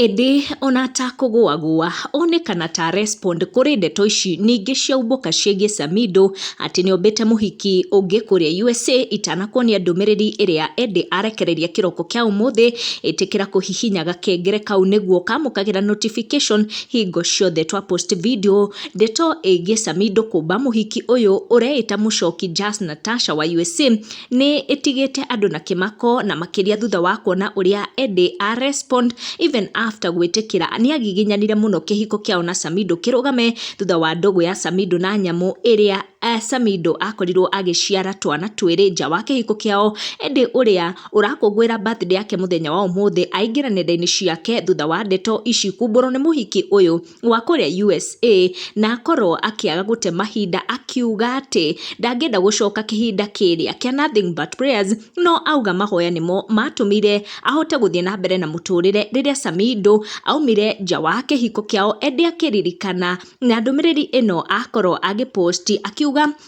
Ĩndĩ o na ta kũgũagũa, onekana ta arespond kũrĩ ndeto ici nyingĩ cia umbũka ciĩgiĩ Samidoh atĩ nĩombĩte mũhiki ũngĩ kũrĩa USA itanakuonia ndũmĩrĩri ĩrĩa Eddy arekereirie kĩroko kĩa ũmũthĩ, ĩtĩkĩra kũhihinya gakengere kau nĩguo kamũkagĩra notification hingo ciothe twa post video. Ndeto ĩgiĩ Samidoh kũmba mũhiki ũyũ ũreĩta mũcoki Jas Natasha wa USA, nĩ ĩtigĩte andũ na kĩmako na makĩria thutha wa kuona ũrĩa Eddie a respond even after gwĩtĩkĩra nĩagiginyanire mũno kĩhiko kĩao na Samido kĩrũgame thutha wa ndũgũ ya Samido na nyamũ ĩrĩa eh, Samido akorirwo agĩciara twana twĩrĩ nja wa kĩhiko kĩao Eddie ũrĩa ũrakũngũĩra birthday yake mũthenya wa ũmũthĩ aingĩra nenda-inĩ ciake thutha wa ndeto ici kumbũrwo nĩ mũhiki ũyũ wa kũrĩa USA na akorwo akĩaga gũte mahinda akiuga atĩ ndangĩenda gũcoka kĩhinda kĩrĩa kĩa nothing but prayers no auga mahoya nĩmo matũmire ahote gũthiĩ na mbere na mũtũrĩre rĩrĩa Samido aumire nja wa kĩhiko kĩao ĩndĩ akĩririkana na ndũmĩrĩri ĩno akorwo agĩ post akiuga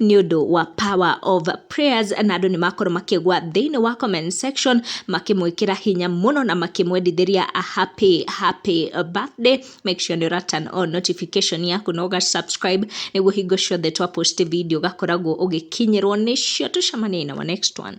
nĩ ũndũ wa power of prayers na andũ nĩ makorwo makĩgwa thĩinĩ wa comment section makĩmwĩkĩra hinya mũno na makĩmwendithĩria a happy happy birthday make sure nĩ ũra turn on notification yaku na ũga subscribe nĩguo hingo ciothe twa post video ũgakoragwo ũgĩkinyĩrwo nĩcio tũcemanie na wa next one